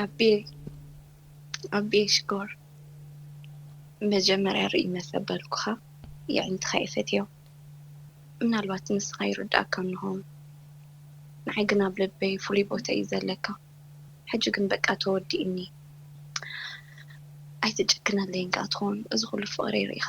ኣቤ ኣቤ ሽኮር መጀመርያ ርእይ መሰበልኩኻ የዒንትኻ ይፈትዮ ምናልባት ንስኻ ይርድኣካ እንሆ ንዓይ ግን ኣብ ልበይ ፍሉይ ቦታ እዩ ዘለካ ሕጂ ግን በቃ ተወዲእኒ ኣይትጨክነለይን ከኣ ትኾን እዚ ኩሉ ፍቅረይ ሪኢኻ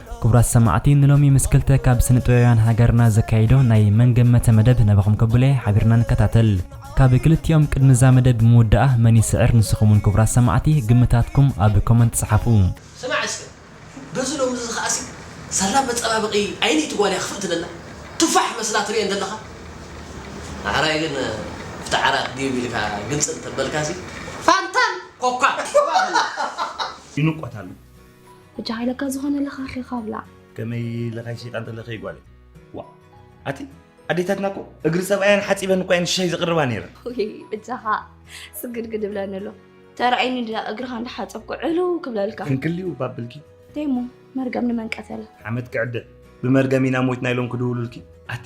ክቡራት ሰማዕቲ ንሎሚ ምስ ክልተ ካብ ስነጥበባውያን ሃገርና ዘካይዶ ናይ መን ገመተ መደብ ናባኹም ከብለየ ሓቢርና ንከታተል ካብ ክልቲኦም ቅድሚ እዛ መደብ ምውዳኣ መን ይስዕር ንስኹም ውን ክቡራት ሰማዕቲ ግምታትኩም ኣብ ኮመንት ጽሓፉ። ስማዕ እስከ በዚ ሎምዚ ከኣሲ ሳላ መጸባበቂ ዓይኒ እቲ ጓል እያ ክፍእት ደላ ቱፋሕ መስላ ትርኤን ደለኻ ዳሕራይ ግን ኣብቲ ዓራት ዲብ ኢልካ ግንጽል ተበልካሲ ፋንታን ኮካን ይንቆት ኣሎ። ሕጂ ሃይለካ ዝኾነ ለኻኺኻ ብላዕ። ከመይ ለኻይ ሸይጣን ተለኸይ ጓለይ ዋ ኣቲ ኣዴታትና እኮ እግሪ ሰብኣያን ሓፂበን እኳ እየን ሻይ ዘቕርባ ነይረን እጃኻ ስግድግድ ብለኒ ኣሎ ተራእይኒ ድኣ እግርኻ እንዳሓፀብኩ ዕልው ክብለልካ ክንክልዩ ባብልኪ ተይሞ መርገም ንመን ቀተለ ሓመድ ክዕደ ብመርገም ኢና ሞይትና ኢሎም ክድውሉልኪ ኣቲ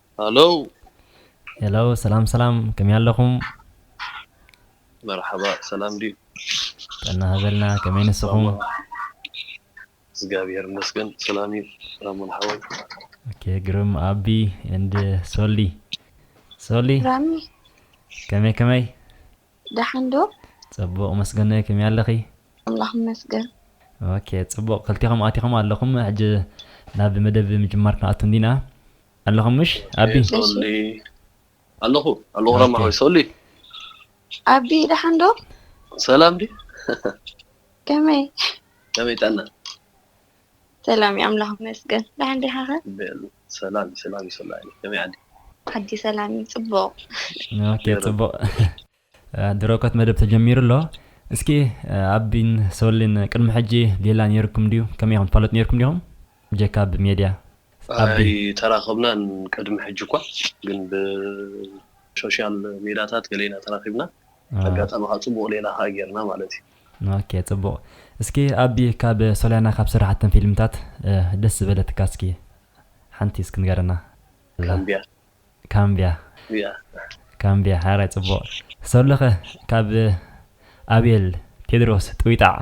Hello Hello ሰላም ሰላም ከመይ ኣለኹም? መርሓባ ሰላም ድዩ? ጥዕና ሃበልና ከመይ ንስኹም? እግዚኣብሔር ይመስገን ሰላም እዩ ራሙን ሓወይ። Okay ግርም ኣቢ and ሶሊ ሶሊ Rami ከመይ ከመይ? ደሓን ዶ? ጽቡቕ መስገነይ ከመይ ኣለኺ? ኣምላኽ ይመስገን። ኦኬ ጽቡቕ ክልቴኹም ኣቲኹም ኣለኹም ሕጂ ናብ መደብ ምጅማር ክንኣቱ እንዲና። ኣለኹም ምሽ ኣቢ? ሶሊ ኣለኹ ኣለኹ ራማ ሆይ ሶሊ ኣቢ ደሓን ዶ? ሰላም ዲዩ? ከመይ? ከመይ ጥዕና? ሰላም ዩ ኣምላኽ ይመስገን ደሓን ዲኻ ከ። ሰላም ዩ ሰላም ዩ ሰላም ከመይ ዓዲ። ዓዲ ሰላም ዩ ጽቡቕ። ኦኬ ጽቡቕ ድሮ እኮ እቲ መደብ ተጀሚሩ ኣሎ እስኪ ኣቢን ሶሊን ቅድሚ ሕጂ ሌላ ኔርኩም ድዩ ከመይ ኢኹም ትፋለጡ ኔርኩም ዲኹም ብጀካ ብ ሜድያ። ኣይተራኸብናን ቅድሚ ሕጂ እኳ ግን ብ ሾሻል ሜዳታት ገለ ኢና ተራኺብና ኣጋጣሚ ከኣ ጽቡቕ ሌላ ከኣ ጌርና ማለት ዩ። ኦኬ ጽቡቅ እስኪ ኣቢ ካብ ሶልያና ካብ ሰራሓተን ፊልምታት ደስ ዝበለትካ እስኪ ሓንቲ እስኪ ንገረና። ካምብያ። ካምብያ። ካምብያ ሓራይ ጽቡቅ ሰሉከ ካብ ኣቤል ቴድሮስ ጥዊጣዕ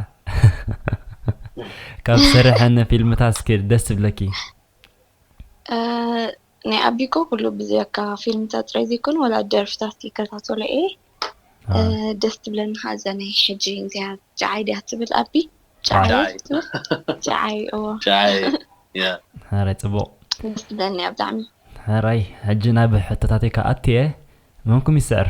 ካብ ሰረሐን ፊልምታት እስኪ ደስ ዝብለኪ። ናይ ኣቢ እኮ ኩሉ ብዘካ ፊልምታት ጥራይ ዘይኮነ ወላ ደርፍታት ይከታተሎ እየ ደስ ትብለኒ ከዓ እዛ ናይ ሕጂ እንተያ ጨዓይ ድያ ትብል ኣቢ ጨዓይ ጨዓይ እዎ ጨዓይ ሕራይ ፅቡቕ ደስ ትብለኒ እያ ብጣዕሚ ሕራይ ሕጂ ናብ ሕቶታተይ ክኣቱ እየ መምኩም ይስዕር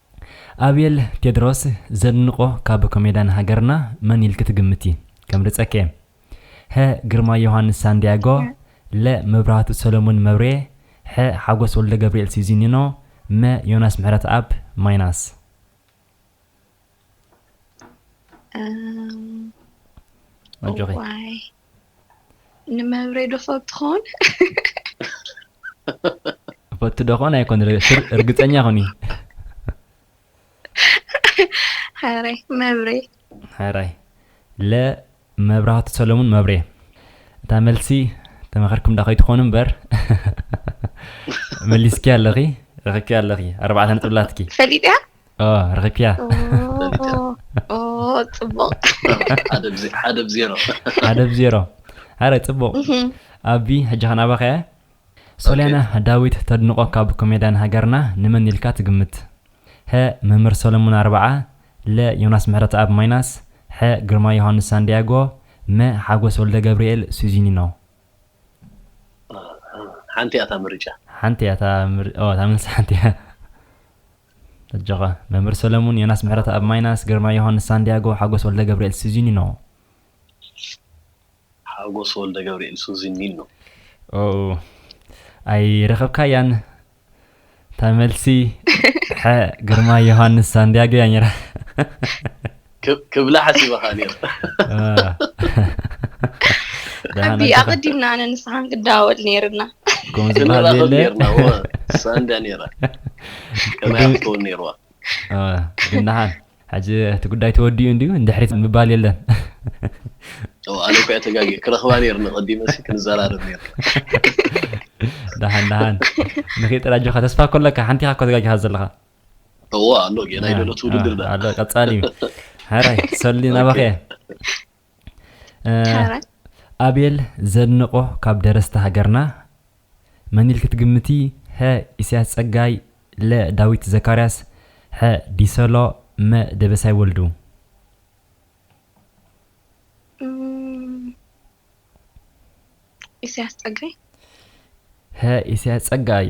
ኣቤል ቴድሮስ ዘድንቆ ካብ ኮሜዳን ሃገርና መን ኢልኪ ትግምቲ ከምርጸኪ ሀ ግርማይ ዮሃንስ ሳንድያጎ ለ መብራህቱ ሰለሙን መብርየ ሐ ሓጎስ ወልደገብርኤል ሲዚኒኖ መ ዮናስ ምሕረትኣብ ማይናስ። እም እዋይ። ንመብሬ ዶ ፎብ ትኾን ፈቱ ዶ ኮን ኣይኮን እርግፀኛ ኮኒ ሕራይ መብሬ ሕራይ ለ መብራህቱ ሰለሙን መብሬ እታ መልሲ ተመኸርኩም ዳ ከይትኾኑ እምበር መሊስኪ ኣለኺ ረኺብኪ ኣለኺ ኣርባዕተ ነጥብላትኪ ፈሊጥያ ረኺብክያ ፅቡቕ ሓደ ብ ዜሮ ሓደ ብ ዜሮ ኣረ ፅቡቕ ኣቢ ሕጂ ከናባኻ እያ ሶልያና ዳዊት ተድንቆ ካብ ኮሜድያን ሃገርና ንመን ኢልካ ትግምት ሀ መምህር ሰለሙን ኣርብዓ ለ ዮናስ ምሕረተኣብ ማይናስ ሐ ግርማይ ዮሃንስ ሳንዲያጎ መ ሓጎስ ወልደ ገብርኤል ሱዚኒኖ ሓንቲ እያ እታ ምርጫ ሓንቲ እያ እታ ምርጫ እታ መልሲ ሓንቲ እያ ኣጆኻ መምህር ሰለሙን፣ ዮናስ ምሕረተኣብ ማይናስ፣ ግርማይ ዮሃንስ ሳንድያጎ፣ ሓጎስ ወልደገብርኤል ሱዚኒኖ። ሓጎስ ወልደገብርኤል ሱዚኒኖ። ኦው ኣይረኸብካያን እታ መልሲ፣ ሐ ግርማይ ዮሃንስ ሳንድያጎ እያ ነይራ። ክብላ ሓሲበ ከኣ ነይረ። ኣቢ ኣቐዲምና ኣነ ንስኻ ክንዳወል ነይርና ክንራኸብ ነይርና እዎ ሳንዳ ነይራ ከመይ ክትከውን ነይርዋ ግን ደሓን ሕጂ እቲ ጉዳይ ተወዲኡ እንድዩ ንድሕሪት ምባል የለን ኣነ እኳ ተጋጊ ክረኽባ ነይርኒ ቀዲመ ክንዘራረብ ነይር ደሓን ደሓን ንኺጥራጆኻ ተስፋ ኮለካ ሓንቲኻ እኳ ተጋጊኻ ዘለኻ እዎ ኣሎ ጌና ይደሎ ትውድድር ዳ ኣሎ ቀጻሊ እዩ ሓራይ ሰሊ ናባኸ ኣቤል ዘድንቆ ካብ ደረስቲ ሃገርና መን ኢልክ ትግምቲ ሀ ኢሳያስ ጸጋይ ለ ዳዊት ዘካርያስ ሐ ዲሰሎ መ ደበሳይ ወልዱ ኢሳያስ ጸጋይ ሀ ኢሳያስ ጸጋይ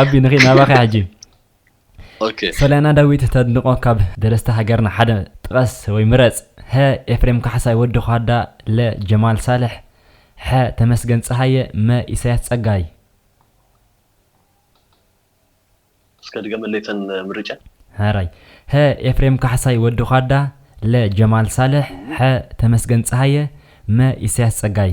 ኣቢ ንኺ ናባኸ ሕጂ ሰለና ዳዊት ተድንቆ ካብ ደረስቲ ሃገርና ሓደ ጥቐስ ወይ ምረጽ ሀ ኤፍሬም ካሕሳይ ወዲ ኳዳ ለ ጀማል ሳልሕ ሐ ተመስገን ፀሃየ መ ኢሳያስ ፀጋይ እስከ ድገመለይ ተን ምርጫ ሀራይ ሀ ኤፍሬም ካሕሳይ ወዲ ኳዳ ለ ጀማል ሳልሕ ሐ ተመስገን ፀሃየ መ ኢሳያስ ፀጋይ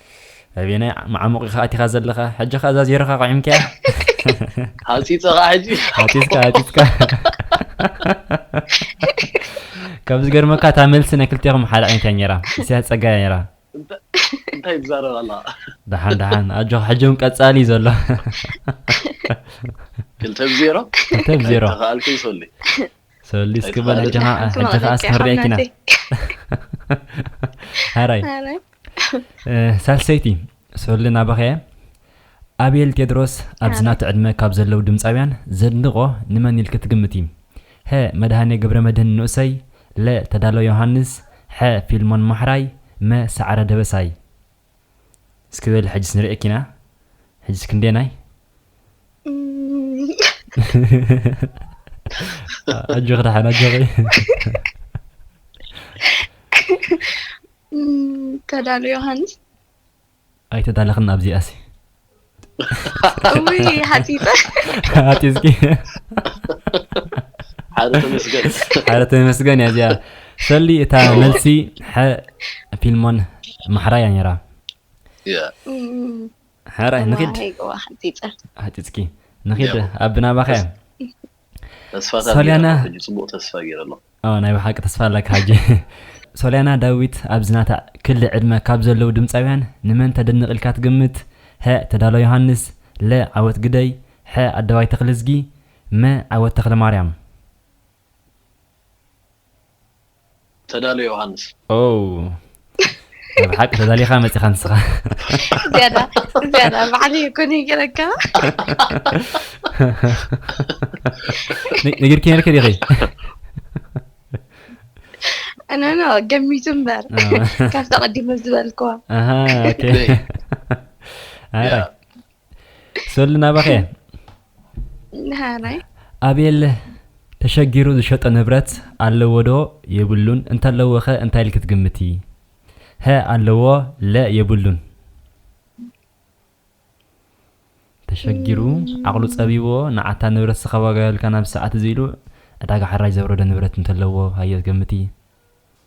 ኣቤናይ መዓሙቕ ኢኻ ኣቲኻ ዘለኻ ሕጂ ከ እዛ ዜሮኻ ቁዒምካያ ሃፂፅኻ ሕጂ ሃፂፅካ ሃፂፅካ ካብ ዝገርመካ እታ መልሲ ናይ ክልቴኹም ሓደ ዓይነት እያ ነይራ እስያስ ፀጋ እያ ነይራ እንታይ ትዛረብ ኣላ ደሓን ደሓን ኣጆኻ ሕጂ እውን ቀፃሊ እዩ ዘሎ ክልተ ብዜሮ ክልተ ብዜሮ ተኸኣልክን ሰሉይ ሰሊ እስኪ በል ሕጂ ኸዓ ሕጂ ኸዓ ስክሕርያ ኪና ሃራይ ሳልሰይቲ ሰሊ ናባኸ እየ ኣቤል ቴድሮስ ኣብዚ ናቲ ዕድመ ካብ ዘለዉ ድምፃውያን ዘድንቖ ንመን ኢልኪ ትግምቲ? ሀ መድሃኔ ገብረመድህን ንኡሰይ ለ ተዳሎ ዮሃንስ ሐ ፊልሞን ማሕራይ መ ሰዓረ ደበሳይ እስኪ በሊ ሕጅስ ንርእየኪ ኢና ሕጅስ ክንደናይ ኣጆኺ ደሓን ኣጆኺ ተዳሉ ዮሃንስ ኣይተዳለኽን ኣብዚኣሲ እውይ ሃፂፀ ኣጢዝኪ ሓደ ተመስገን ሓደ ተመስገን እያ እዚኣ ሰሊ እታ መልሲ ሐ ፊልሞን ማሕራ እያ ነራ እያ ሕራይ ንኺድ ሃፂፀ ሃጢፅኪ ንኺድ ኣብ ናባኸ እያ ተስፋታት ሶልያና ገይረ ሕጂ ጽቡቅ ተስፋ ገይረ ኣለኹ ኦ ናይ ብሓቂ ተስፋ ኣለካ ሕጂ ሶልያና ዳዊት ኣብዚ ናታ ክሊ ዕድመ ካብ ዘለዉ ድምጻውያን ንመን ተድንቅ ኢልካ ትግምት ሀ ተዳሎ ዮሃንስ ለ ዓወት ግደይ ሐ ኣደባይ ተኽልዝጊ መ ዓወት ተኽለማርያም። ተዳሎ ዮሃንስ። ኦው ናይ ብሓቂ ተዳሊኻ መጺኻ ንስኻ። ዝያዳ ዝያዳ ባዕሉ ይኩን ይገረካ ነ- ነጊርኪ ነርኪ ዲኺ እነኖ ገሚቱ እምበር ካብቲ ቀዲመ ዝበልክዋ ኣሃ ኦኬ ኣረ ያ፣ ሰሉ ናባኸ ኣቤል ተሸጊሩ ዝሸጦ ንብረት ኣለዎ ዶ የብሉን እንተለዎ ኸ እንታይ ኢልክ ትግምቲ ሀ ኣለዎ ለ የብሉን ተሸጊሩ ዓቕሉ ጸቢዎ ንዓታ ንብረት ዝኸባጋዮልካ ናብ ሰዓት እዚ ኢሉ ዕዳጋ ሓራጅ ዘውረደ ንብረት እንተለዎ ሃዮ ገምቲ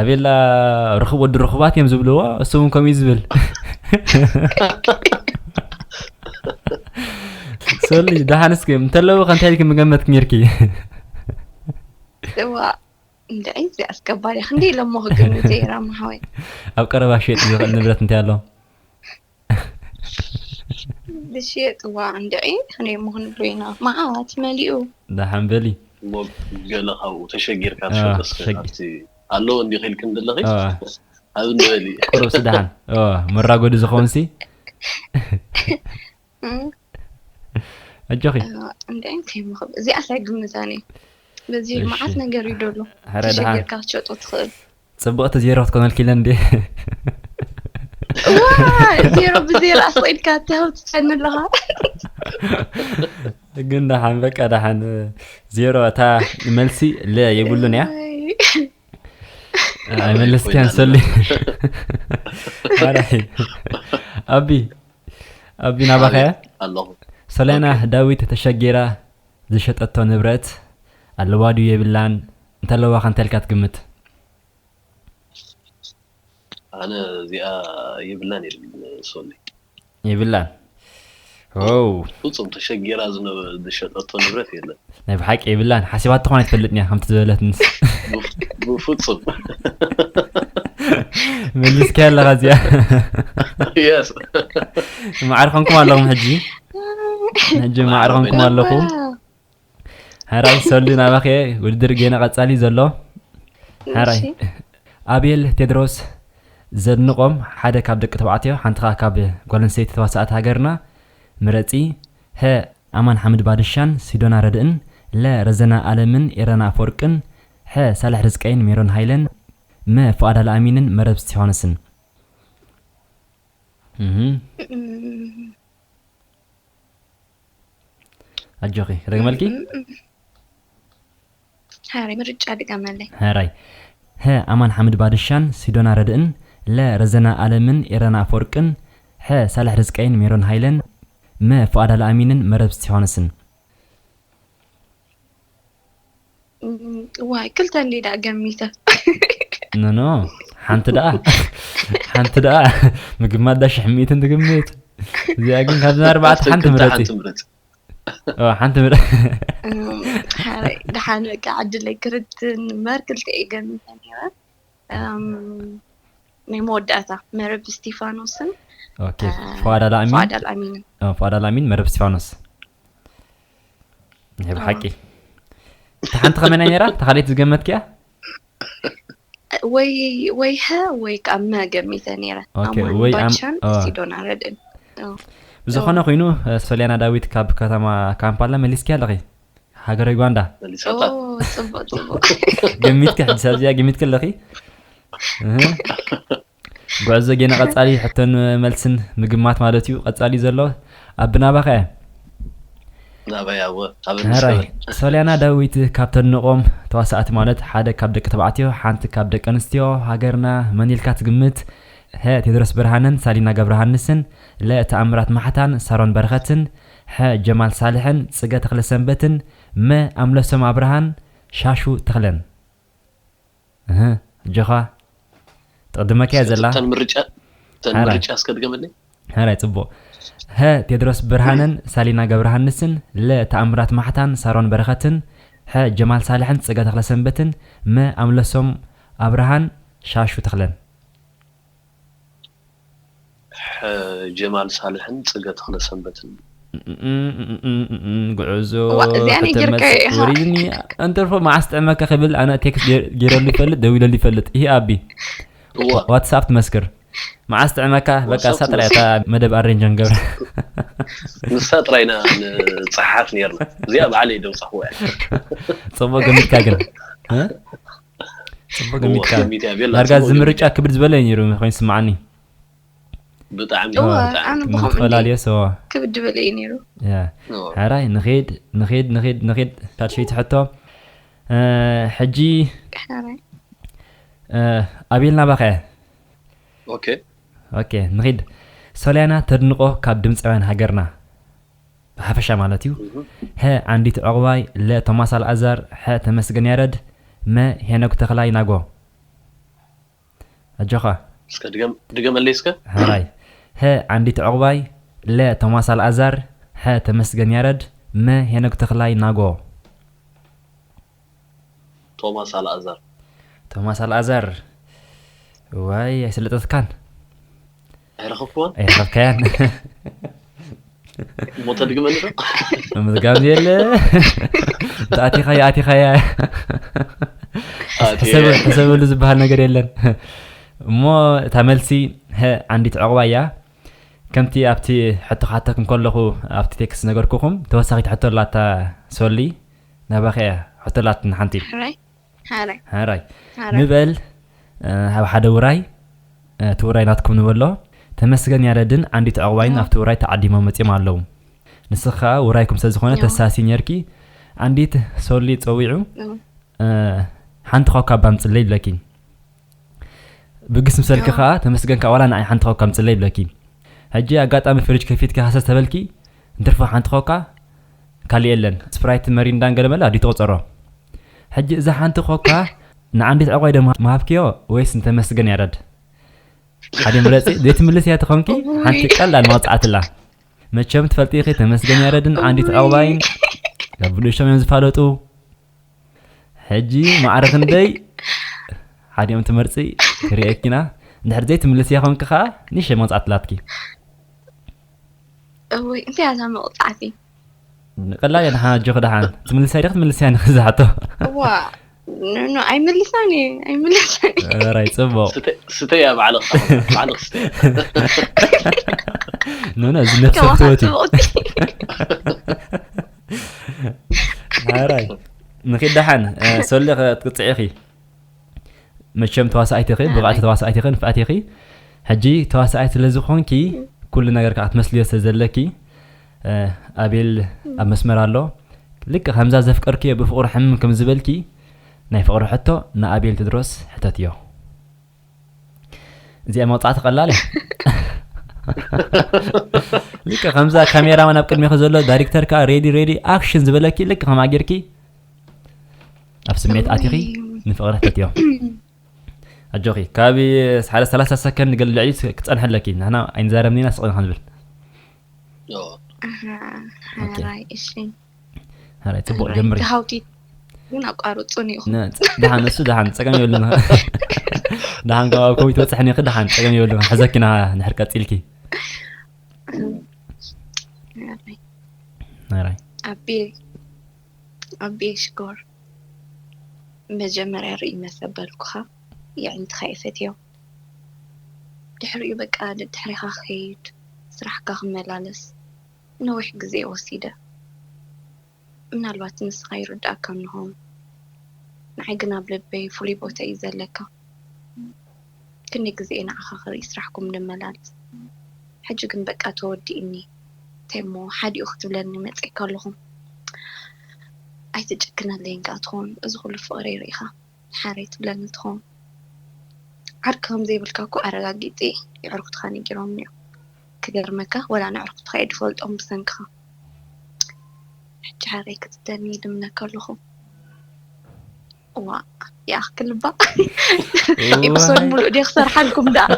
ኣቤላ ርክብ ወዲ ርክባት እዮም ዝብልዎ እሱ እውን ከምኡ ዝብል ሶሊ ደሃንስ ግን እንተለዎ ከንታይ ኢልኪ ምገመት ኪሚርኪ እዋ እንታይ እዚ ኣስገባሪ ክንደይ ኢሎሞ ክግምት እየ ራማ ሓወይ ኣብ ቀረባ ሸጥ ዝኽእል ንብረት እንታይ ኣሎ ዝሽየጥዋ እንድዒ ክንደይ እሞ ክንብሎ ኢና መዓት መሊኡ። ደሓን በሊ። እሞ ገለ ካብኡ ተሸጊርካ ትሸጦ እስከ ካብቲ ኣለዎ እንዲኺ ኢልኪ እንድለኺ ሃብ እንዲ በሊ። ቁሩብሲ ደሓን መራጎዲ ዝኸውንሲ ኣጆኺ። እንድዒ እንታይ እሞ ክብል እዚኣስ ኣይግምታን እየ በዚ መዓት ነገር እዩ ደሎ ተሸጊርካ ክትሸጦ ትኽእል። ጽብቕቲ ዜሮ ክትኮነልኪ ኢለን እንዴ ዜሮ ብዜሮ ኣስቂድካ ተህው ትጨኒ ኣለኻ ግን ደሓን በቃ ደሓን ዜሮ እታ መልሲ ለ የብሉን እያ ኣይመለስክያን ሰሊ ኣቢ ኣቢ ናባኸያ ኣለኹ ሰለና ዳዊት ተሸጊራ ዝሸጠቶ ንብረት ኣለዋ ድዩ የብላን እንተለዋ ከ እንታይ ኢልካ ትግምት? ኣነ እዚኣ የብላን ይብል ሶሊ። የብላን ዎው። ፍጹም ተሸጊራ ዝሸጠቶ ንብረት የለን። ናይ ብሓቂ የብላን ሓሲባቶ ኮን ኣይትፈልጥን እያ ከምቲ ዝበለትንስ። ብፍጹም መሊስካያ ኣለኻ እዚኣ። የስ። ማዕረ ኮንኩም ኣለኹም ሕጂ። ሕጂ ማዕርኹምኩም ኣለኹ ሕራይ ሰሉ ናባኸ ውድድር ጌና ቀጻሊ ዘሎ ሕራይ ኣቤል ቴድሮስ ዘድንቖም ሓደ ካብ ደቂ ተባዕትዮ ሓንቲ ከዓ ካብ ጓል ኣንስተይቲ ተዋሳእቲ ሃገርና ምረጺ ሀ ኣማን ሓምድ ባድሻን ሲዶና ረድእን ለ ረዘና ኣለምን ኤረና ኣፈወርቅን ሐ ሳልሕ ርዝቀይን ሜሮን ሃይለን መ ፍቓድ ኣልኣሚንን መረብ እስጢፋኖስን ኣጆኺ ረግመልኪ ሃረይ ምርጫ ድገመለይ ሃራይ ሀ ኣማን ሓምድ ባድሻን ሲዶና ረድእን ለ ረዘና ኣለምን ኤረና ኣፈወርቅን ሐ ሳልሕ ርዝቀይን ሜሮን ሃይለን መ ፍቓድ ኣልኣሚንን መረብ እስቲፋኖስን ዋይ ክልተ እንዲ ዳ ገሚተ ኖኖ ሓንቲ ደኣ ሓንቲ ደኣ ምግማት ዳ ሽሕ ሚእትን ትግምት እዚኣ ግን ካብዚ ኣርባዕተ ሓንቲ ምረፂ ሓንቲ ምረ ሓረይ ደሓን በቃ ዕድለይ ክርትን እምበር ክልተ እየ ገሚተ ነይረ ናይ መወዳእታ መረብ እስጢፋኖስን ፋዳል ኣሚንን መረብ እስጢፋኖስ ናይ ብሓቂ እቲ ሓንቲ ከመይ ናይ ነራ እታ ካልኦት ዝገመትክያ ወይ ወይ ሀ ወይ ከዓ መ ገሚተ ነረ ወይ ባሻን ሲዶና ረድእን ብዝኾነ ኮይኑ ሰሊያና ዳዊት ካብ ከተማ ካምፓላ መሊስኪ ኣለኺ ሃገረ ዩጋንዳ ገሚትኪ ሕጂ ሳብዚያ ገሚትኪ ኣለኺ ጉዕዞ ጌና ቀጻሊ ሕቶን መልስን ምግማት ማለት እዩ ቀጻሊ ዘሎ ኣብ ናባኻ እያ ናባይ ኣወ ኣብ ንስከበል ሶልያና ዳዊት ካብ ተድንቆም ተዋሳእቲ ማለት ሓደ ካብ ደቂ ተባዕትዮ ሓንቲ ካብ ደቂ ኣንስትዮ ሃገርና መን ኢልካ ትግምት ሀ ቴድሮስ ብርሃነን ሳሊና ገብረሃንስን ለ ተኣምራት ማሕታን ሳሮን በረኸትን ሐ ጀማል ሳልሕን ጽገ ተኽለሰንበትን መ ኣምለሶም ኣብርሃን ሻሹ ተኽለን እህ ኣጆኻ ትቕድመካ'ያ እስከ ዘላ። እተን ምርጫ እተን ሐራይ ምርጫ እስከ ድገመለይ። ሐራይ ጽቡቕ ሀ ቴድሮስ ብርሃነን ሳሊና ገብረሃንስን ለ ተኣምራት ማሕታን ሳሮን በረኸትን ሐ ጀማል ሳልሕን ጸጋ ተኽለሰንበትን መ ኣምለሶም ኣብርሃን ሻሹ ተኽለን። ሐ ጀማል ሳልሕን ፅገ ተክለሰንበትን እዩ። እምእምእምእምእም ጉዕዞ እዋእ እዚኣ ናይ ጌርካዮ ከተመጽእ ኢኻ ወሪድኒ ኣንተርፎ መዓስ ጥዕመካ ክብል ኣነ ቴክስት ገይር- ገይረሉ ይፈልጥ ደዊለሉ ይፈልጥ እሂ ኣቢ እዋ ዋ- ዋትስኣፕ ትመስክር መዓስ ጥዕመካ በቃ ዋትስኣፕ ንሳ ጥራይ እታ ትመስክር። መደብ ኣሬንጅ ክንገብራ ንሳ ጥራይ ኢና ንፀሓሓፍ ኔርና እዚኣ ባዕለይ ደውፃኹዋ እያ። ጽቡቅ ገሚትካ ግን እ? ዳርጋ እዚ ምርጫ ክብድ ዝበለ እዩ ነይሩ ኮይኑ ስምዓኒ ብጣዕሚ ተፈላለየ ሰዋ ክብድ ዝበለ እዩ ነይሩ ሕራይ ንኸድ ንኸድ ንኸድ ንኸድ ታድሸይቲ ሕቶ ሕጂ ኣቤልና ባኸ ኦኬ ኦኬ ንኸድ ሶልያና ተድንቆ ካብ ድምፃውያን ሃገርና ብሓፈሻ ማለት እዩ። ሀ ዓንዲት ዑቕባይ ለ ቶማስ ኣልኣዛር ሐ ተመስገን ያረድ መ ሄኖግ ተኽላይ ናጎ ኣጆኻ። እስከ ድገም ድገመለይ እስከ። ሐራይ ሀ ዓንዲት ዑቕባይ ለ ቶማስ ኣልኣዛር ሐ ተመስገን ያረድ መ ሄኖግ ተኽላይ ናጎ። ቶማስ ኣልኣዛር። ቶማስ ኣልኣዛር እዋይ ኣይሰለጠትካን። ኣይረኸብክዋን? ኣይረኸብካያን። እሞ ተድግመኒ ዶ? ምምዝጋብ ዘየለ እንተ ኣቲኻያ ኣቲኻያ ኣትየ። ሕሰበሉ ዝበሃል ነገር የለን እሞ እታ መልሲ ሀ ዓንዲት ዕቑባ እያ ከምቲ ኣብቲ ሕቶ ክሓተኩም ከለኹ ኣብቲ ቴክስ ነገርኩኹም ተወሳኺት ሕቶ ኣላታ ሶሊ ናባኻ እያ ሕቶላት ንሓንቲ። ሕራይ ሓራይ ሕራይ ሓራይ ንበል ኣብ ሓደ ውራይ እቲ ውራይ ናትኩም ንበሎ ተመስገን ያረድን ዓንዲት ዕቕባይን ኣብቲ ውራይ ተዓዲሞም መጺኦም ኣለዉ ንስኺ ከኣ ውራይኩም ስለ ዝኾነ ተሳሲ ኔርኪ ዓንዲት ሶሊ ጸዊዑ ሓንቲ ኮካ ባምጽለይ ኢለኪ ብግስ ምሰልኪ ከዓ ተመስገን ከዓ ዋላ ንዓይ ሓንቲ ኮካ ምፅለይ ይብለኪ ሕጂ ኣጋጣሚ ፍርጅ ከፊትኪ ሃሰስ ተበልኪ እንትርፎ ሓንቲ ኮካ ካልእ የለን ስፕራይት መሪንዳን ገለ መለ ኣድዩ ትቁፀሮ ሕጂ እዛ ሓንቲ ኮካ ንዓንዲት ዕቋይ ዶ ምሃብክዮ ወይስ ንተመስገን ያረድ ሓደ ምረፂ ዘይትምልስ እያ ተኾንኪ ሓንቲ ቀላል መቕፃዕትላ መቸም ትፈልጢ ኢኺ ተመስገን ያረድን ዓንዲት ዕቑባይን ናብ ብንእሽቶም እዮም ዝፋለጡ ሕጂ ማዕረ ክንደይ ሓዲኦም ትመርፂ ክሪኤኪና እንድሕር ዘይትምልስያ ኮንኪ ከዓ ንእሽተይ መቕፃዕቲ ላትኪ እወይ እንታይ እያ እዛ መቕፃዕቲ ቀላል እያ ድሓን ኣጆኺ ድሓን ትምልስያ ዲኺ ትምልስያ ንኺ ዝሓቶ እዋ ኖ ኣይምልሳን እየ ኣይምልሳን ራይ ፅቡቕ ስተያ ባዕልኽ ባዕልኽ ስተያ ኖ ኖ እዚ ነፍሰ ትወት እዩ ሃራይ ንኺድ ደሓን ሰሊ ክትቅፅዒ ኢኺ መቸም ተዋሳኣይቲ ኢኺ ብቕዕቲ ተዋሳኣይቲ ኢኺ ንፍዕቲ ኢኺ ሕጂ ተዋሳኣይቲ ስለ ዝኾንኪ ኩሉ ነገር ከዓ ክትመስልዮ ስለ ዘለኪ ኣቤል ኣብ መስመር ኣሎ ልክ ከምዛ ዘፍቀርክዮ ብፍቕሩ ሕምም ከም ዝበልኪ ናይ ፍቕሪ ሕቶ ንኣቤል ትድሮስ ሕተትዮ እዚኣ መውፃዕቲ ቀላል እያ ልክ ከምዛ ካሜራማን ኣብ ቅድሚኺ ዘሎ ዳይሬክተር ከዓ ሬዲ ሬዲ ኣክሽን ዝበለኪ ልክ ከማ ጌርኪ ኣብ ስሜት ኣቲኺ ንፍቕሪ ፈትዮ ኣጆኺ ካብ ሓደ ሰላሳ ሰከንድ ገል ልዕሊ ክፀንሐ ኣለኪ ንሕና ኣይንዛረብኒና ስቕኒ ክንብል ፅቡቅ ጀምሪ ሃውቲ ግን ኣቋርፁን ኢኹም ድሓን እሱ ድሓን ፀገም የብሉን ድሓን ካብ ኮቢ ትበፅሕኒ ክ ድሓን ፀገም የብሉን ሕዘኪና ንሕር ቀፂልኪ ናራይ ኣቤ ኣቤ ሽኮር መጀመርያ ርኢ መሰበልኩኻ የዕንትኻ ይፈትዮ ድሕሪኡ በቃ ድሕሪኻ ክኸይድ ስራሕካ ክመላለስ ነዊሕ ግዜ ወሲደ ምናልባት ንስኻ ይርድኣካ እንሆን ንዓይ ግን ኣብ ልበይ ፍሉይ ቦታ እዩ ዘለካ ክንደይ ግዜ እየ ንዓኻ ክርኢ ስራሕኩም ንመላልስ ሕጂ ግን በቃ ተወዲእኒ እንታይ እሞ ሓዲኡ ክትብለኒ መጺእካ ኣለኹ ኣይትጨክነለይን ከኣ ትኾን እዚ ኩሉ ፍቅረይ ርኢኻ ሓረይ ትብለኒ ትኸውን ዓርኪ ከም ዘይብልካ እኮ ኣረጋጊጺ የዕርኩትካ ነጊሮምኒ እዮም ክገርመካ ወላ ነዕርኩትካ እየ ድፈልጦም ብሰንክኻ ሕጂ ሓረይ ክትብለኒ ይልምነካ ኣለኹ ዋእ ይኣኽል እባ ኢፕሶድ ሙሉእ ድየ ክሰርሓልኩም ደኣ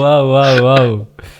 ዋው ዋው ዋው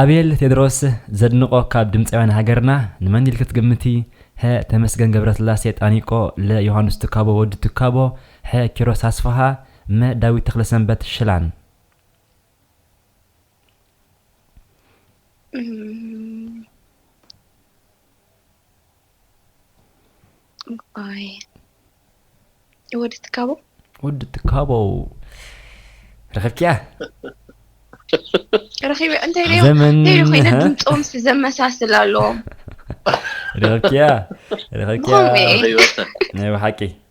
ኣቤል ቴድሮስ ዘድንቆ ካብ ድምፃውያን ሃገርና ንመን ኢልኪ ትግምቲ ሀ ተመስገን ገብረስላሴ ጣኒቆ ለ ዮሃንስ ትካቦ ወዲ ትካቦ ሐ ኪሮስ ኣስፍሃ መ ዳዊት ተክለሰንበት ሽላን እዋይ ወዲ ትካቦ ወዲ ትካቦ ረኺብኪያ ረኺበ እንታይ ደዮ ዘመን እንታይ ደዮ ኮይነ ድምፆም ሲ ዘመሳስል ኣለዎም ረኺብኪያ ረኺብኪያ ብኸምኡ እየ ናይ ብሓቂ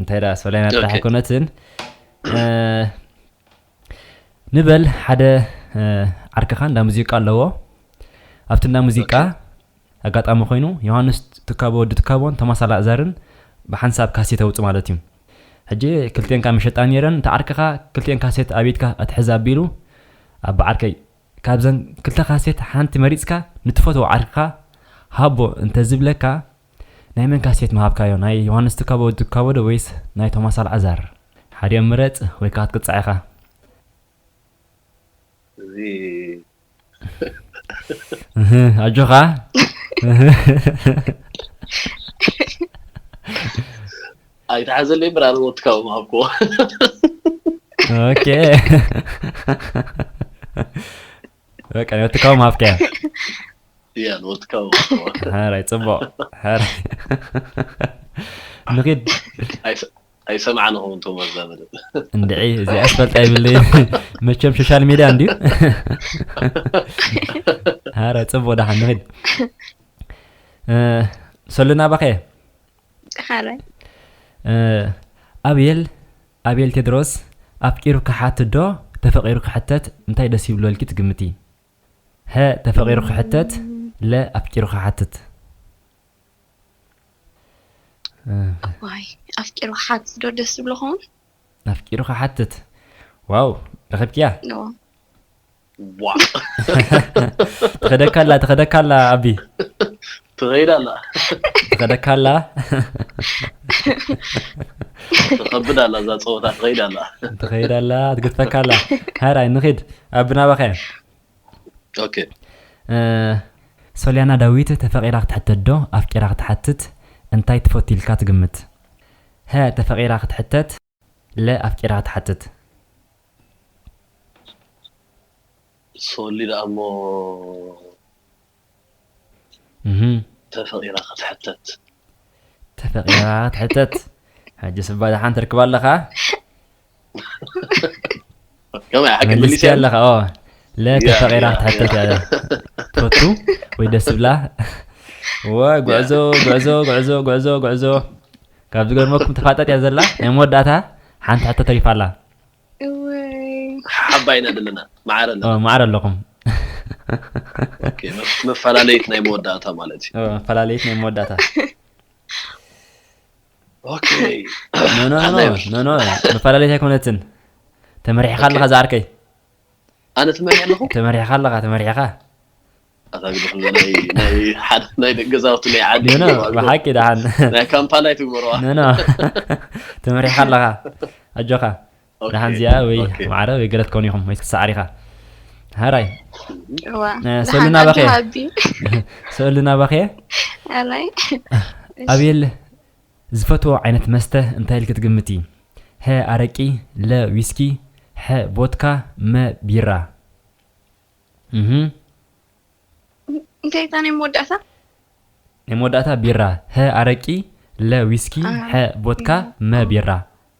እንታይ ደኣ ሰላይና ጥራሕ ኣይኮነትን ንበል ሓደ ዓርክኻ እንዳ ሙዚቃ ኣለዎ ኣብቲ እንዳ ሙዚቃ ኣጋጣሚ ኮይኑ ዮሃንስ ትካቦ ወዲ ትካቦን ቶማስ ኣላእዛርን ብሓንሳብ ካሴት ኣውፅ ማለት እዩ ሕጂ ክልቴን ካብ መሸጣ ነይረን እቲ ዓርክኻ ክልቴን ካሴት ኣብትካ ኣትሕዝ ኣቢሉ ኣብ ዓርከይ ካብዘን ክልተ ካሴት ሓንቲ መሪፅካ ንትፈትዎ ዓርክኻ ሃቦ እንተዝብለካ ናይ መን ካሴት ምሃብካዮ ናይ ዮሃንስ ትካቦ ትካቦዶ ወይስ ናይ ቶማስ ኣልዓዛር ሓዲኦም ምረጽ ወይ ከኣ ክትቅጻዕ ኢኻ። እህህ ኣጆኻ ኣይትሓዘለይ እምበር ኣነ እውን ትካቦ ምሃብክዎ። ኦኬ በቃ ወትካዊ ምሃብካያ እያ ንወትካዊ ሕራይ ፅቡቅ ሕራይ ንኪድ ኣይሰምዓን ኹም እንቶም ኣዛ መደብ እንድዒ እዚኣ ስፈልጣ ይብለይ መቸም ሶሻል ሚድያ እንድዩ ሕራይ ፅቡቅ ዳሓን ንኪድ ሰሉና ባኸየ ኣቤል ኣቤል ቴድሮስ ኣፍቂሩ ክሓትት ዶ ተፈቂሩ ክሕተት እንታይ ደስ ይብሎ ኢልኪ ትግምቲ? ሀ ተፈቂሩ ክሕተት ለ ኣፍቂሩ ክሓትት። እዋይ ኣፍቂሩ ክሓትት ዶ ደስ ዝብሎ ክኸውን? ኣፍቂሩ ክሓትት ዋው ረኺብክያ። ትኸደካ ኣላ ትኸደካ ኣላ ኣቢ ትኸይድ ኣላ ትኸደካ ኣላ ትኸብድ ኣላ እዛ ፀወታ ትኸይድ ኣላ ትኸይድ ኣላ ትግድፈካ ኣላ ሃራይ ንኺድ ኣቢ ናባኸ ኦኬ ሶልያና ዳዊት ተፈቂራ ክትሕተት ዶ ኣፍቂራ ክትሓትት እንታይ ትፈቱ ኢልካ ትግምት ሀ ተፈቂራ ክትሕተት ለ ኣፍቂራ ትሓትት። ሶሊ ደኣ እሞ ተፈቂራ ክትሕተት። ተፈቂራ ክትሕተት ሕጅስ እባ ደሓን ትርክባ ኣለኻ። ከምኡ ሓቂ መልስ መሊሰ ኣለኻ ኦ ለተፈቂራ ያ፣ ክትሓተት እያ ትፈቱ ወይ ደስ ዝብላ ወ ጉዕዞ ጉዕዞ ጉዕዞ ጉዕዞ ጉዕዞ ካብ ዝገርመኩም ተፋጠጥ እያ ዘላ ናይ መወዳእታ ሓንቲ ሕቶ ተሪፋ ኣላ እወይ ሓባይ ኢና ዘለና ማዕረ ኣለና ኦ፣ ማዕረ ኣለኹም ኦኬ፣ መፍ- መፈላለይት ናይ መወዳእታ ማለት እዩ ኦ፣ ፈላለየት ናይ መወዳእታ መፈላለየት ኣይኮነትን ተመሪሕኻ ኣለኻ ዝዓርከይ ኣነ ትመሪሕ ኣለኹ ተመሪሕኻ ኣለኻ ተመሪሕኻ ናይ ገዛውቲ ናይ ዓዲ ብሓቂ ደሓን ናይ ካምፓላ ይትግበረዋ ተመሪሕኻ ኣለኻ ኣጆኻ ደሓን እዚኣ ወይ ኦኬ ማዕረ ወይ ገለ ትከውን ኢኹም ወይ ክትሰዓር ኢኻ ሃራይ እዋ እ፣ ሰሉ ደሓን ናባኸ ኣለኻ እየ ኣቢ ሰሉ ናባኸ እየ ኣራይ እሺ ኣቤል ዝፈትዎ ዓይነት መስተ እንታይ ኢልኪ ትግምቲ ሀ ኣረቂ ለ ዊስኪ ሐ ቦትካ መ ቢራ እህ እንታይ እታ ናይ መወዳእታ ናይ መወዳእታ ቢራ ሀ ኣረቂ ለ ዊስኪ አ ሐ ቦትካ መ ቢራ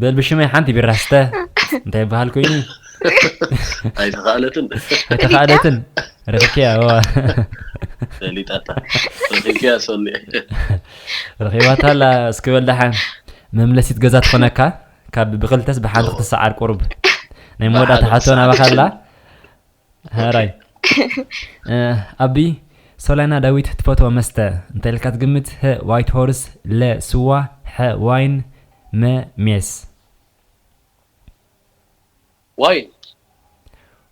በል ብሽመይ ሓንቲ ቢራ ስተ እንታይ ይበሃል ኮይኑ ኣይተኸኣለትን ኣይተኸኣለትን ረኪብከያ ዋ ፈሊጣታ ረኪብከያ ሰኒ ረኪባታ ኣላ እስኪ በል ደሓን መምለሲት ገዛ ትኾነካ ካብ ብክልተስ ብሓንቲ ክትሰዓር ቁርብ ናይ መወዳእታ ሓቶ ናባኻ ኣላ ሐራይ ኣቢ ሶላይና ዳዊት ትፈትዎ መስተ እንተልካ ትግምት ህ ዋይት ሆርስ ለ ስዋ ሐ ዋይን መ ሜስ ዋይን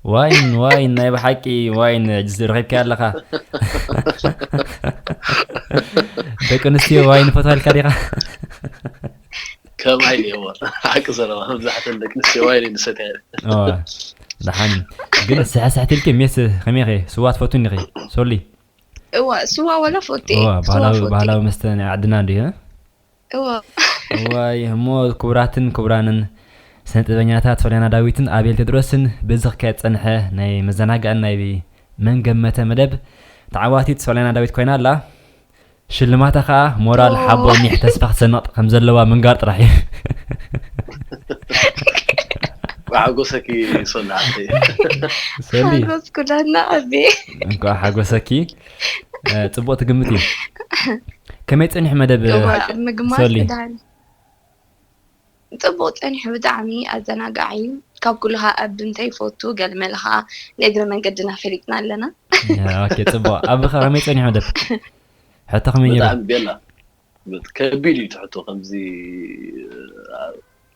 ዋይን ዋይን ናይ ብሓቂ ዋይን ሕጂ ረኺብካያ ኣለኻ ደቂ ኣንስትዮ ዋይን ፈትዋልካ ዲኻ ከማይ እኔዎ ሓቂ ዘረባ መብዛሕተን ደቂ ኣንስትዮ ዋይን እየን ዝሰትያ ደሓን ግን ስሕስሕት ኢልኪ ሜስ ከመይ ኸ ስዋ ትፈቱ እንዲኺ ሶሊ እዋ ስዋ ወላ ፎቴ ባህላዊ መስተ ናይ ዓድና እንዲዩ እዋ እዋይ እሞ ክቡራትን ክቡራንን ስነ ጥበኛታት ሶልያና ዳዊትን ኣቤል ቴድሮስን በዚ ክካየድ ፀንሐ ናይ መዘናግዕን ናይ መንገመተ መደብ ተዓዋቲት ሶልያና ዳዊት ኮይና ኣላ ሽልማታ ከኣ ሞራል ሓቦ ኒሕ ተስፋ ክትሰንቕ ከም ዘለዋ ምንጋር ጥራሕ እዩ ሓጎሰኪ ሶሊ ዓደይ ሰሊ ሓጎስ ኩላትና ኣቤ እንኳዕ ሓጎሰኪ እ፣ ጽቡቕ ትግምት እዩ ከመይ ጸኒሑ መደብ እዋ ምግማት ሶሊ። ክዳን ጽቡቅ ጸኒሑ ብጣዕሚ ኣዘናጋዒ ካብ ኩሉ ከኣ ኣቢ እንታይ ይፈቱ ገልመለ ከኣ ንእግረ መንገድና ፈሊጥና ኣለና። ኦኬ ጽቡቅ ኣቢ ከ ከመይ ጸኒሑ ደፊ ሕቶ ከመይ ኔሩ። ብጣዕሚ ቤላ ከቢድ እዩ እቲ ሕቶ ከምዚ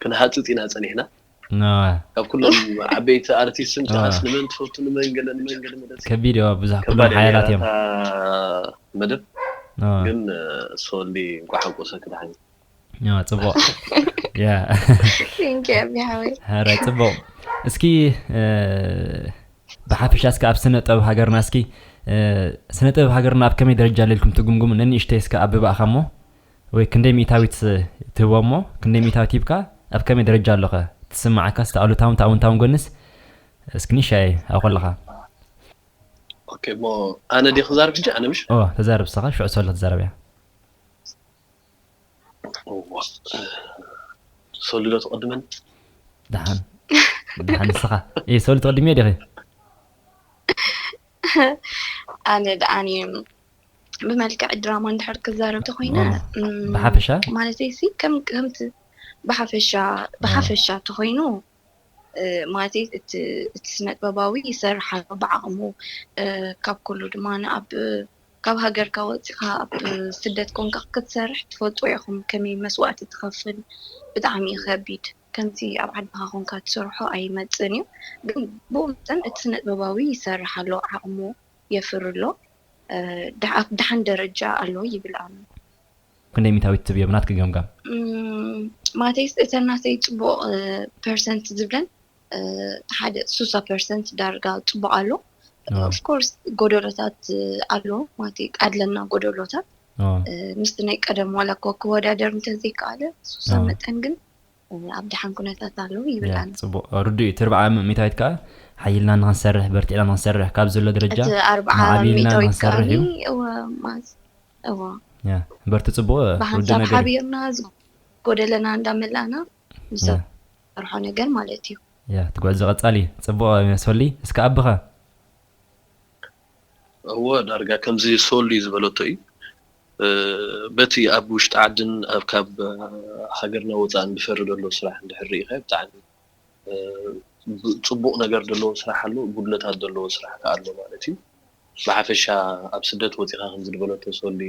ክንሃጽጽ ኢና ጸኒሕና ካብ ኩሎም ዓበይቲ ኣርቲስት እንተኣስ ንመን ትፈቱ ንመን ገለ ንመን ገለ መለሲ ከቢድ እዩ ብዙሕ ኩሎም ከባድ ሓያላት እዮም መደብ ግን ሶሊ እንኳዕ ሓጎሰኪ ድሓን ፅቡቅ ራይ ፅቡቅ እስኪ ብሓፈሻ እስኪ ኣብ ስነ ጥበብ ሃገርና እስኪ ስነ ጥበብ ሃገርና ኣብ ከመይ ደረጃ ለልኩም ትግምግሙ ነንእሽተይ እስከ ኣብባእኻ እሞ ወይ ክንደይ ሚእታዊት ትህቦ እሞ ክንደይ ሚእታዊት ሂብካ ኣብ ከመይ ደረጃ ኣሎኸ ትስምዓካ ስቲ ኣሉታውን ተኣውንታውን ጎንስ እስኪ ንሻየ ኣብ ከለኻ ኦኬ እሞ ኣነ ዲ ክዛርብ ሕጂ ኣነ ምሽ ተዛርብ ሰኻ ሽዑ ሰለ ትዛረብ እያ ሰሉ ዶ ትቅድመኒ? ደሓን ደሓን ንስኻ እይ ሰሉ ትቅድሚዮ ዲኺ? ኣነ ደኣኒ ብመልክዕ ድራማ እንድሕር ክዛረብ ተኾይነ ብሓፈሻ ማለተይሲ ከም ከምቲ ብሓፈሻ ብሓፈሻ ተኾይኑ ማለተይ እቲ እቲ ስነጥበባዊ ይሰርሕ ኣሎ ብዓቕሙ ካብ ኩሉ ድማ ኣብ ካብ ሃገርካ ወፂኻ ኣብ ስደት ኮንካ ክትሰርሕ ትፈልጡ ኢኹም ከመይ መስዋእቲ ትኸፍል ብጣዕሚ እዩ ከቢድ ከምቲ ኣብ ዓድኻ ኮንካ ትሰርሖ ኣይመፅን እዩ ግን ብኡ መጠን እቲ ስነጥበባዊ ይሰርሕ ኣሎ ዓቕሙ የፍሪ ኣሎ ደሓን ደረጃ ኣሎ ይብል ኣሎ ክንደይ ሚታዊት ትብዮ ብናትኪ ገምጋም? ማተይስ እተን ናተይ ጽቡቕ ፐርሰንት ዝብለን ሓደ ሱሳ ፐርሰንት ዳርጋ ጽቡቕ ኣሎ ኦፍ ኮርስ ጎደሎታት ኣሎ ማቲ ኣለና ጎደሎታት ምስቲ ናይ ቀደም ዋላ እኳ ክወዳደር እንተዘይከኣለ ሱሳ መጠን ግን ኣብ ደሓን ኩነታት ኣለዉ ይብል ኣነ። ጽቡቕ ርዱእ እዩ። እቲ ኣርብዓ ሚእታዊት ከኣ ሓይልና ንኽንሰርሕ፣ በርቲዕና ንኽንሰርሕ፣ ካብ ዘሎ ደረጃ እቲ ኣርብዓ ማዕቢልና ሚእታዊት ንኽንሰርሕ ከኣኒ እዩ። እወ ማዝ እወ ያ በርቱ ጽቡቕ ውዲ ብሓንሳብ ነገር እዩ። ሓቢርና ዝጎደለና እንዳመላእና ያ ንሰርሖ ነገር ማለት እዩ። ያ እቲ ጉዕዞ ቀጻሊ እዩ። ጽቡቕ ሶሊ እስከ ኣቢኻ። እወ ዳርጋ ከምዚ ሶሊ ዝበለቶ እዩ። በቲ ኣብ ውሽጢ ዓድን ካብ ሃገርና ወጻእን ድፈሪ ደሎ ስራሕ እንድሕር ርኢኻዮ ብጣዕሚ ጽቡቕ ነገር ደለዎ ስራሕ ኣሎ ጉድለታት ደለዎ ስራሕ ከኣ ኣሎ ማለት እዩ ብሓፈሻ ኣብ ስደት ወጺኻ ከምዚ ድበለቶ ሶሊ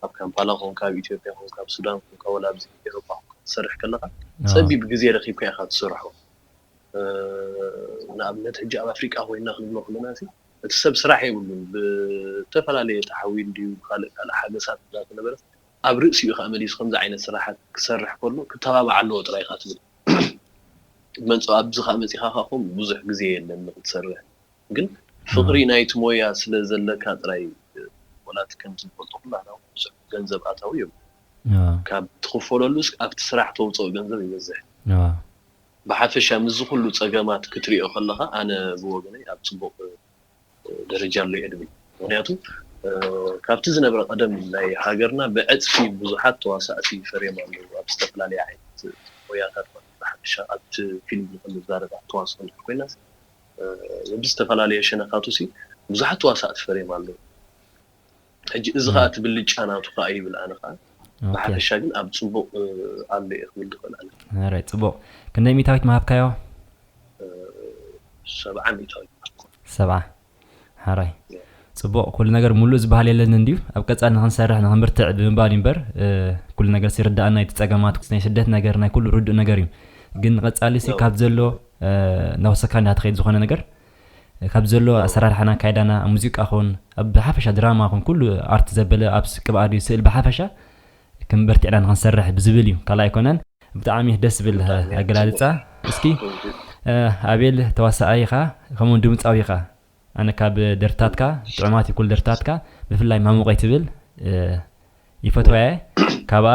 ኣብ ካምፓላ ኮንካ ኣብ ኢትዮጵያ ኮንካ ኣብ ሱዳን ኮንካ ወላ ኣብዚ ኤሮፓ ኮንካ ትሰርሕ ከለኻ ጸቢብ ግዜ ረኺብካ ኢኻ ትሰርሖ ንኣብነት ሕጂ ኣብ ኣፍሪቃ ኮይና ክንብሎ ከለናሲ እቲ ሰብ ስራሕ የብሉን ብዝተፈላለየ ተሓዊሉ ድዩ ብካልእ ካልእ ሓገሳት እንዳተነበረስ ኣብ ርእሲኡ ከኣ መሊሱ ከምዚ ዓይነት ስራሓት ክሰርሕ ከሎ ክተባባዕ ኣለዎ ጥራይ ኢካ ትብል ትመንጽኦ ኣብዚ ከኣ መጺካ ከኣ ኮም ብዙሕ ግዜ የለን ንክትሰርሕ ግን ፍቅሪ ናይቲ ሞያ ስለ ዘለካ ጥራይ ወላ እቲ ከምቲ ንፈልጦ ኩላህና ውን ብዙሕ ገንዘብ ኣታዊ የብሉን ካብ ትክፈለሉስ ኣብቲ ስራሕ ተውጽኦ ገንዘብ ይበዝሕ። ብሓፈሻ ምስዚ ኩሉ ጸገማት ክትሪኦ ከለኻ ኣነ ብወገነይ ኣብ ጽቡቕ ደረጃ ኣሎ እየ ድብል። ምኽንያቱ ካብቲ ዝነበረ ቀደም ናይ ሃገርና ብዕጽፊ ብዙሓት ተዋሳእቲ ፈርዮም ኣለዉ ኣብ ዝተፈላለየ ዓይነት ሞያታት ማለት እዩ። ብሓፈሻ ኣብቲ ፊልም ንኽንዛረብ ኣብ ተዋስኦ እንድሕር ኮይናስ በብዝተፈላለየ ሸነኻቱሲ ብዙሓት ተዋሳእቲ ፈርዮም ኣለዉ። ሕጂ እዚ ከኣ እቲ ብልጫ ናቱ ከኣ ይብል ኣነ ከኣ ብሓፈሻ ግን ኣብ ጽቡቕ ኣሎ እየ ክብል ዝኽእል ኣነ ራይት ጽቡቕ ክንደይ ሚእታዊት ምሃብካዮ ሰብዓ ሚእታዊት ሰብዓ ሓራይ ጽቡቕ ኩሉ ነገር ሙሉእ ዝበሃል የለን እንድዩ ኣብ ቀጻሊ ንክንሰርሕ ንክንብርትዕ ብምባል እዩ እምበር ኩሉ ነገር ሲርዳእና እቲ ጸገማት ናይ ስደት ነገር ናይ ኩሉ ርዱእ ነገር እዩ ግን ንቐጻሊ ሲ ካብ ዘሎ ናወሰካ እንዳ ትኸይድ ዝኾነ ነገር ካብ ዘሎ ኣሰራርሓና ኣካይዳና ኣብ ሙዚቃ ኹን ኣብ ብሓፈሻ ድራማ ኹን ኩሉ ኣርት ዘበለ ኣብ ቅብ ኣድዩ ስእል ብሓፈሻ ክም በርቲዕና ንክንሰርሕ ብዝብል እዩ ካልእ ኣይኮነን። ብጣዕሚ ደስ ዝብል ኣገላልጻ እስኪ ኣቤል ተዋሳኣይ ኢኻ ከምኡ ውን ድምጻዊ ኢኻ ኣነ ካብ ደርፍታትካ ጥዑማት እዩ ኩሉ ደርፍታትካ ብፍላይ ማሙቀይ ትብል ይፈትዋ እየ ካብኣ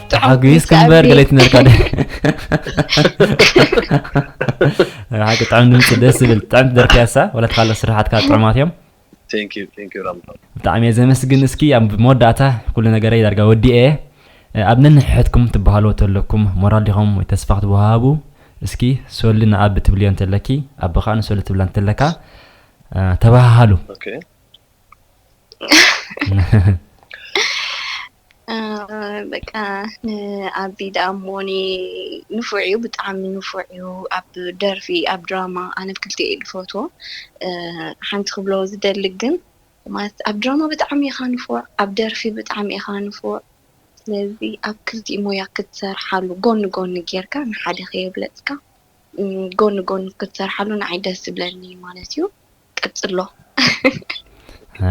ተሓጒስኪ እምበር ገለ ይትነርካ ዶ ሓቂ ጥዑም ድምፂ ደስ ዝብል ጥዕም ደርፊ ያሳ ወላ ተካለ ስራሓትካ ጥዑማት እዮም ብጣዕሚ እየ ዘመስግን እስኪ ኣብ መወዳእታ ኩሉ ነገረ ዳርጋ ወዲኤ ኣብ ነንሕሕትኩም ትበሃሉ ተለኩም ሞራል ዲኹም ወይ ተስፋ ክትወሃቡ እስኪ ሶሊ ንኣብ ትብልዮ እንተለኪ ኣብ ከዓ ንሶሊ ትብላ እንተለካ ተባሃሃሉ በቃ ንኣቢ ደኣ እሞ ንፉዕ እዩ ብጣዕሚ ንፉዕ እዩ ኣብ ደርፊ ኣብ ድራማ ኣነ ብክልቲኡ እየ ዝፈትዎ ሓንቲ ክብሎ ዝደሊ ግን ማለት ኣብ ድራማ ብጣዕሚ ኢኻ ንፉዕ ኣብ ደርፊ ብጣዕሚ ኢኻ ንፉዕ ስለዚ ኣብ ክልቲኡ ሞያ ክትሰርሓሉ ጎኒ ጎኒ ጌርካ ንሓደ ከየብለፅካ ጎኒ ጎኒ ክትሰርሓሉ ንዓይ ደስ ዝብለኒ ማለት እዩ ቀጽሎ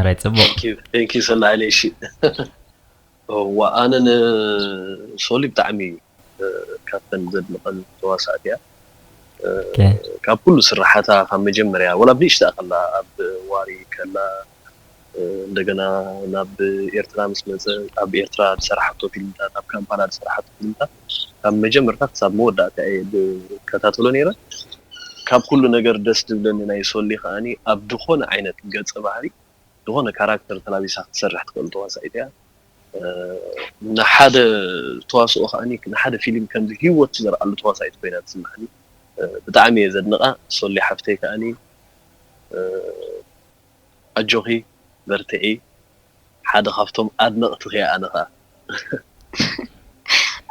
ራይ ጽቡቅ ቴንኪ ሰናይለይ እሺ እዋ ኣነ ንሶሊ ብጣዕሚ ካብተን ዘድንቀን ተዋሳእቲ እያ ካብ ኩሉ ስርሓታ ካብ መጀመርያ ወላ ብንእሽተኣ ከላ ኣብ ዋሪ ከላ እንደገና ናብ ኤርትራ ምስ መጸ ኣብ ኤርትራ ዝሰራሓቶ ፊልምታት ኣብ ካምፓላ ዝሰራሓቶ ፊልምታት ካብ መጀመርታ ክሳብ መወዳእታ እየ ዝከታተሎ ነይረ ካብ ኩሉ ነገር ደስ ዝብለኒ ናይ ሶሊ ከኣ ኣብ ድኾነ ዓይነት ገጸ ባህሪ ድኾነ ካራክተር ተላቢሳ ክትሰርሕ ትኽእል ተዋሳኢት እያ ንሓደ ተዋስኦ ከኣ ንሓደ ፊልም ከምዚ ሂወት ትዘርኣሉ ተዋሳኢት ኮይና ትስማዓኒ ብጣዕሚ እየ ዘድንቃ ሶሊ ሓፍተይ ከኣ ኣጆኺ በርትዒ ሓደ ካብቶም ኣድነቅትኺ እየ ኣነ ከኣ።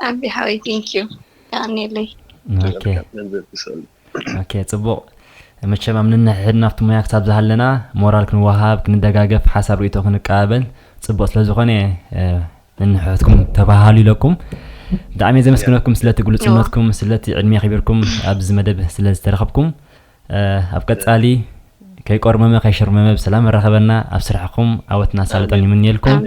ኣቢ ሓወይ thank you የቀንየለይ። ኦኬ ጽቡቅ መቸም ኣብ ነንሕሕድና ኣብቲ ሞያ ክሳብ ዝሃለና ሞራል ክንወሃሃብ ክንደጋገፍ ሓሳብ ርእይቶ ክንቀባበል ጽቡቅ ስለ ዝኾነ ነንሕሕድኩም ተባሃሉ ኢለኩም ብጣዕሚ ዘመስግነኩም ስለቲ ግሉጽነትኩም ስለቲ ዕድሜ ኣኺቢርኩም ኣብዚ መደብ ስለ ዝተረኸብኩም ኣብ ቀጻሊ ከይቆርመመ ከይሽርመመ ብሰላም ኣራኸበና ኣብ ስራሕኹም ዓወትን ኣሳልጦን ይምንየልኩም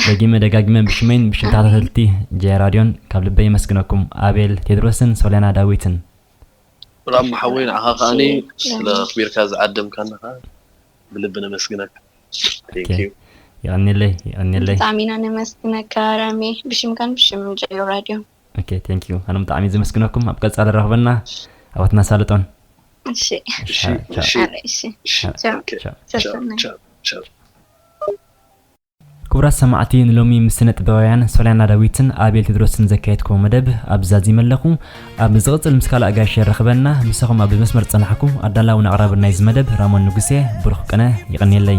ደጊመ ደጋጊመ ብሽመይን ብሽም ተኸታተልቲ ጀያ ራድዮን ካብ ልበይ የመስግነኩም ኣቤል ቴድሮስን ሶልያና ዳዊትን ሰላም ሓወይ ንዓኻ ከኣኒ ስለ ኣኽቢርካ ዝዓደምካና ከኣ ብልቢ ነመስግነካ የቐኔለይ የቐኔለይ ብጣዕሚ ኢና ነመስግነካ ራሜ ብሽምካን ብሽም ጀዮ ራድዮ ኦኬ ቴንክ ዩ ኣነ ብጣዕሚ ዝምስግነኩም ኣብ ቀጻሊ ረኽበና ኣወት መሳልጦን እሺ እሺ እሺ እሺ እሺ ክቡራት ሰማዕቲ ንሎሚ ምስ ስነ ጥበባውያን ሶልያና ዳዊትን ኣቤል ቴድሮስን ዘካየድክዎ መደብ ኣብ ዛዚመ ኣለኹ ኣብ ዝቕፅል ምስ ካልእ ኣጋይሽ የራኽበና ምሳኹም ኣብ መስመር ፀናሕኩ ኣዳላውን ኣቕራብን ናይዚ መደብ ራሞን ንጉሴ ብሩኽ ቅነ ይቕንየለይ